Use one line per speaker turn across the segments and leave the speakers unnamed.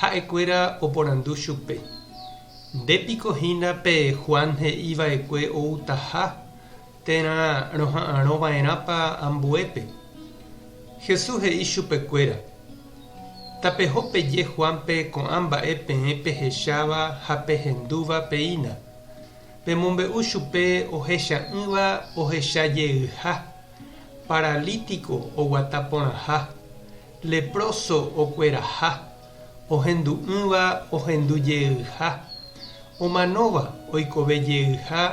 Ha'ekuéra oporandu chupe, Nde piko hína pe Juan he'i va'ekue outaha térã roha'arõ va'erãpa ambuépe? Jesús he'i chupekuéra, Tapeho peje Juánpe ko'ã mba'e peẽ pehecháva ha pehendúva peína, pemombe'u chupe ohecha'ỹva ohecha jeyha, paralítiko oguata porãha, Leproso okueraha, ohendu'ỹva ohendu jeyha, omanóva oikove jeyha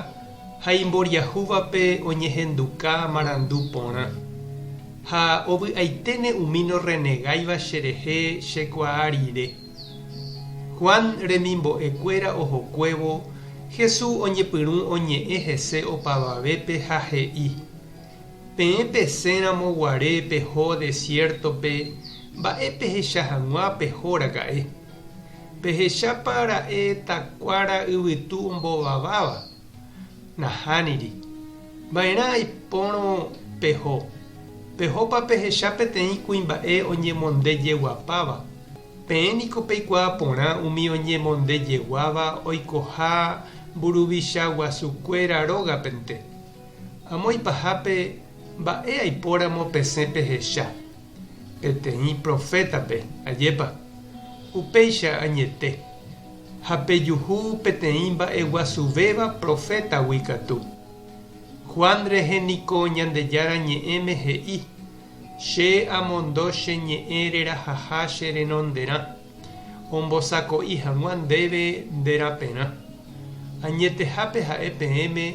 ha imboriahúvape oñehenduka marandu porã. Ha ovy'aiténe umi norrenegáiva cherehe chekuaa rire. Juan remimbo'ekuéra ohokuévo, Jesús oñepyrũ oñe'ẽ hese opavavépe ha he'i, Peẽ pesẽramo guare peho desiértope, mba'e pehecha hag̃ua peho raka'e? Pehechápa ra'e takuára yvytu ombovaváva? Nahániri. Va'erã aipórõ peho. Pehopa pehecha peteĩ kuimba'e oñemondejeguapáva. Peẽ niko peikuaa porã umi oñemondejeguáva oikoha mburuvichaguasukuéra rógapente. Amo ipahápe mba'e aipóramo pesẽ pehecha peteĩ profétape, ajépa? Upéicha añete. Ha pejuhu peteĩ mba'eguasuvéva profétagui katu. Juan rehe niko Ñandejára Ñe'ẽme he'i, Che amondo che ñe'ẽ rerahaha che renonderã. Ombosako'i hag̃ua ndéve nde raperã. Añetehápe ha'e peẽme,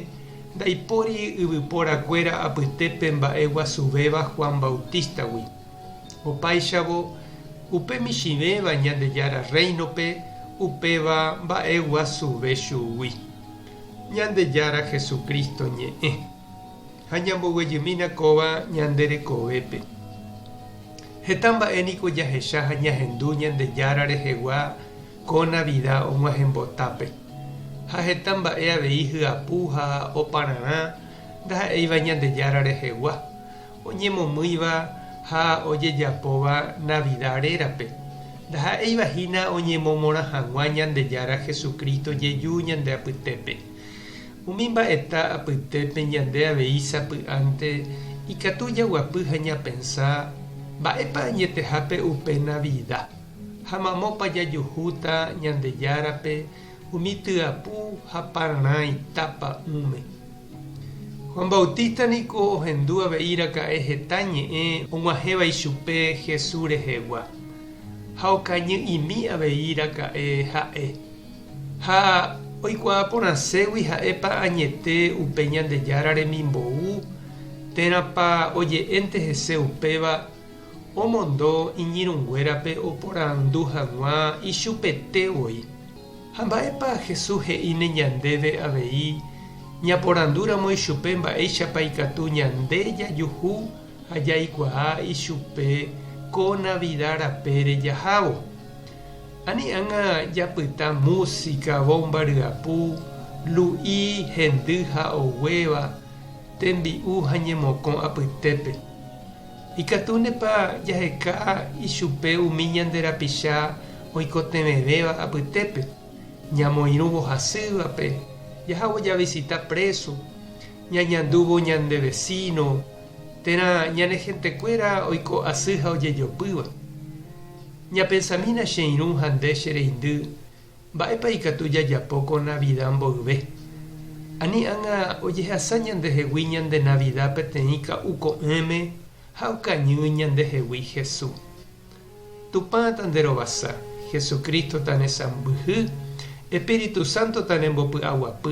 ndaipóri yvypóra kuéra apyte pe mba'e guasuvéva Juan Bautista-gui. Opáichavo, upe michĩvéva Ñandejára Rréinope upéva mba'e guasuve chugui, Ñandejára Jesucristo ñe'ẽ. Ha ñamboguejymína kóva ñande rekovépe. Heta mba'e niko jahecha ha ñahendu Ñandejára rehegua ko Navida og̃uahẽmbotápe. Ha heta mba'e avei hyapu ha opararã ndaha'éiva Ñandejára rehegua, oñemomýiva ha ojejapóva Navida rérape, ndaha'éiva hína oñemomorã hag̃ua Ñandejára Jesucristo jeju ñande apytépe. Umi mba'eta apytépe ñande avei sapy'ánte ikatu jaguapy ha ñapensa, Mba'épa añetehápe upe Navida? ha Mamópa jajuhúta Ñandejárape umi tyapu ha pararãi tapa ỹme? Juan Bautista niko ohendu avei raka'e heta ñe'ẽ og̃uahẽva ichupe Jesús rehegua, ha okañy'imi avei raka'e ha'e. Ha oikuaa porãségui ha'épa añete upe Ñandejára remimbou, térãpa oje'énte hese upéva, omondo iñirũnguérape oporandu hag̃ua ichupete voi. Ha mba'épa Jesús he'íne ñandéve avei ñaporandúramo ichupe mba'éichapa ikatu ñande jajuhu ha jaikuaa ichupe ko Navida rapére jahávo? Ani ág̃a japyta músika, vómba ryapu, lu'i, hendy ha oguéva, tembi'u ha ñemokõ apytépe. Ikatúntepa jaheka ichupe umi ñande rapicha oikotevẽvéva apytépe? Ñamoirũvo hasývape, jahávo javisita préso, ñañandúvo ñande vesíno, térã ñane hentekuéra oiko asy ha ojejopýva. Ñapensamína che irũ ha nde che reindy mba'épa ikatu jajapo ko Navida mboyve. Ani ág̃a ojehasa ñandehegui ñande Navida peteĩ ka'u ko'ẽme ha okañy ñandehegui Hesu. Tupã tanderovasa, Jesucristo tanesãmbyhy, Espíritu Santo tanembopy'aguapy.